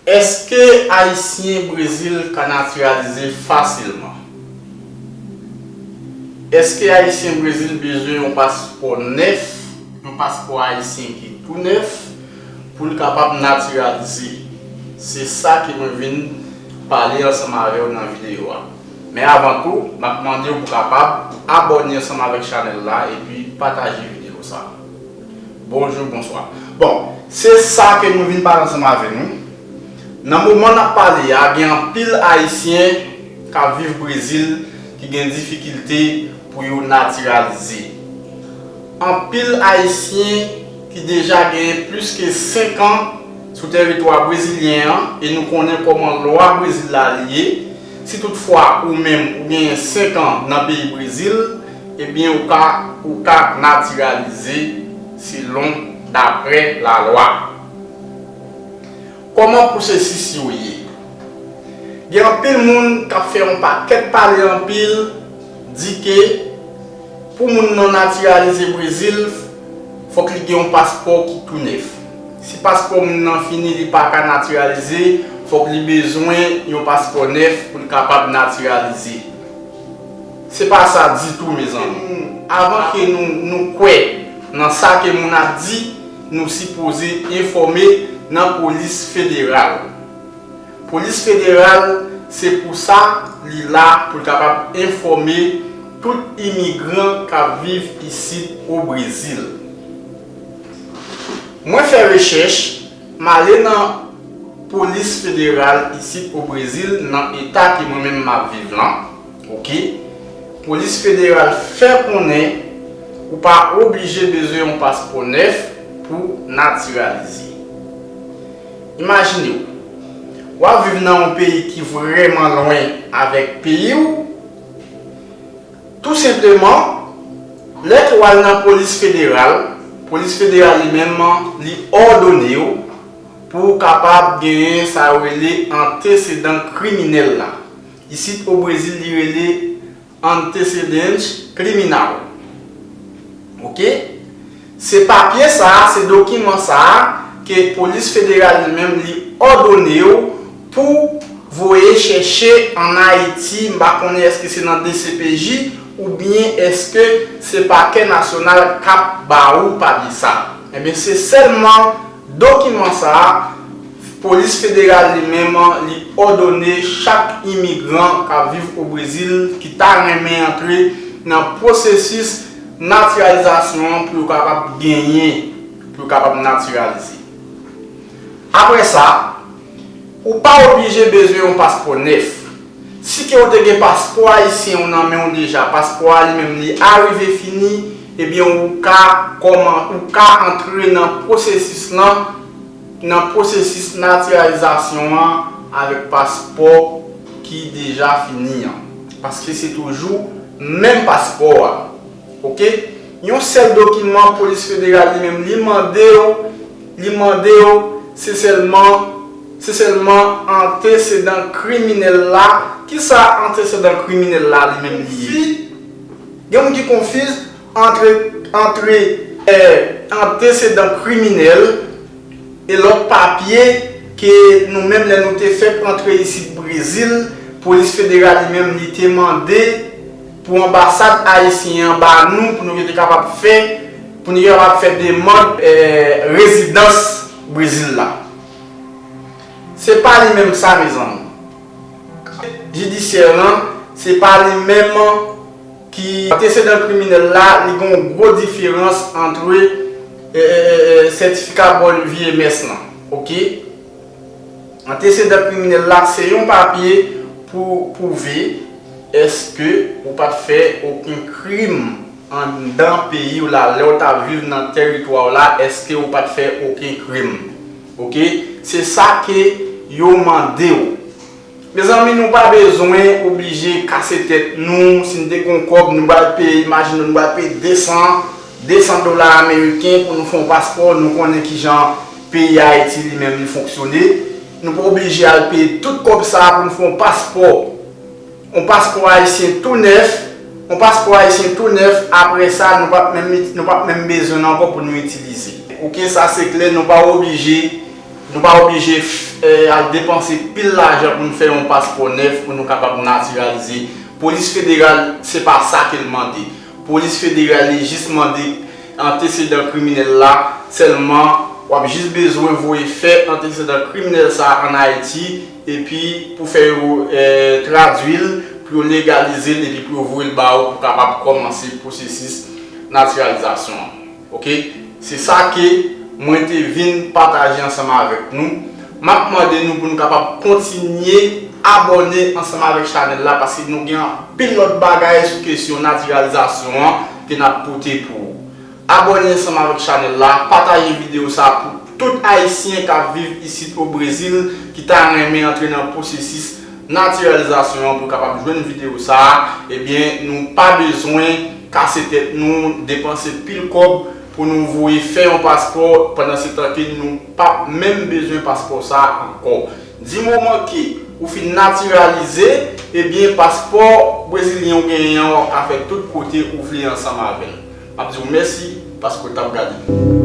Eske ayisyen brezil ka natiralize fasilman? Eske ayisyen brezil bezwen yon paspò nèf, yon paspò ayisyen ki tou nèf pou l kapab natiralize? Se sa ke mwen vin pale ansanm avè w nan videyo a. Men avan tou, nap mande w pou kapab abòne ansanm avèk chanèl la epi pataje video sa. Bonjou, bonswa. Bon, se sa ke mwen vin pale ansanm avè nou. Nan moman nap pale a, gen anpil Ayisyen kap viv Brezil ki gen difikilte pou yo natiralize. Anpil Ayisyen ki deja genyen plis ke 5 an sou tèritwa brezilyen an e nou konnen kòman lwa Brezil la li ye, Si tout fwa ou menm ou genyen 5 an nan peyi Brezil, ebyen ou ka ou ka natiralize selon daprè la lwa. Koman pwosesis yo ye? Gen anpil moun kap fè yon pakèt pale anpil di ke pou moun nan natiralize Brezil fok li gen yon paspò ki tou nèf. Si paspò moun nan fini li pa ka natiralize, fòk li bezwen yon paspò nèf pou l kapab natiralize. Se pa sa ditou mezanmi. Avan ke nou nou kwè nan sa ke moun ap di, nou sipoze enfòme nan polis federal. Polis federal se pou sa li la pou l kapab enfòme tout imigran k ap viv isit o Brezil. Mwen fè rechèch, m ale nan polis federal isit o Brezil nan eta ke mwen menm m ap viv lan, ok, polis federal fè konnen ou pa oblije bezwen yon paspò nèf pou w natiralize. Imajine w, w ap viv nan yon peyi ki vrèman lwen avèk peyi w, Tou senpleman, lè ke w al nan polis federal, polis federal li menm li òdone w pou w kapab genyen sa yo rele antesedan kriminèl la. Isit o Brezil li rele antecedente criminal. Ok? Se papye sa a, se dokiman sa a ke polis federal li menm li òdone w pou voye chèche an Ayiti, m pa konnen èske se nan dcpj oubyen èske se pakè nasyonal k ap ba ou papye sa. Enben se sèlman. Dokiman sa a, Polis Federal li menm li òdone chak imigran k ap viv o Brezil ki ta renmen antre nan pwosesis natiralizasyon an pou yo kapab genyen, pou yo kapab natiralize. Apre sa, ou pa oblije bezwen yon paspò nèf. Si ke ou te gen paspò ayisyen ou nan menw deja paspò a li menm li arive fini ebyen ou ka kòman ou ka antre nan pwosesis lan nan pwosesis natiralizasyon an avèk paspò ki deja fini an paske se toujou menm paspò a. Ok yon sèl dokiman polis federal li menm li mandew li mandew se sèlman se sèlman antesedan kriminèl la kisa antesedan kriminèl la li menm li ye gen moun ki konfiz antre antre antesedan kriminèl e lòt papye ke nou menm lè nou te fèk antre isit brezil polis federal li menm li te mande. Pou anbasad ayisyen an ba nou pou nou gen te kapab fè pou nou gen kapab fè demand rezidans Brezil la. Se pa li menm sa mezanmi. Jidisyè lan se pa li menm ki antesedan kriminèl la li gen yon gwo diferans antre sètifika bon vye mès lan ok. Antesedan kriminèl la se yon papye pou pwouve èske ou pa t fè oken krim anndan peyi w la lè w t ap viv nan tèritwa w la èske ou pa t fè oken krim ok se sa ke yo mande w. Mezanmi nou pa bezwen oblije kase tèt nou si n te gon kòb nou pral peye imajine nou pral peye 200 200 dola ameriken pou nou fè yon paspò nou konnen kijan peyi ayiti li menm li fonksyone nou pa oblije al peye tout kòb sa pou n fè yon paspò yon paspò ayisyen tou nèf yon paspò ayisyen tou nèf aprè sa nou pap menm nou pap menm bezwen l ankò pou nou itilize ok sa se klè nou pa oblije. Nou pa oblije al depanse pil lajan pou nou fè yon paspò nèf pou nou kapab natiralize. Polis federal se pa sa ke l mande. Polis federal li jis mande antesedan kriminèl la sèlman. W ap jis bezwen voye fè antesedan kriminèl sa a an Ayiti epi pou fè yo tradui l, pou yo legalize l epi pou yo voye l ba ou pou kapab kòmanse pwosesis natiralizasyon an. Ok se sa ke mwen te vin pataje ansanm avèk nou, map mande nou pou nou kapab kontinye abòne ansanm avèk chanèl la paske nou gen anpil lòt bagay sou kesyon natiralizasyon an ke nap pote pou ou. Abòne ansanm avèk chanèl la, pataje video sa pou tout ayisyen kap viv isit o Brezil ki ta renmen antre nan pwosesis natiralizasyon an pou yo kapab jwenn video sa, ebyen nou pa bezwen. kase tèt nou, depanse pil kòb pou nou voye fè yon paspò pandan se tan ke nou pap menm bezwen paspò sa ankò. Di moman ke ou fin natiralize, ebyen paspò brezilyen ou genyen an wap ka fè tout kote ou vle ansanm avèl. Map diw mèsi paske ou tap gade m.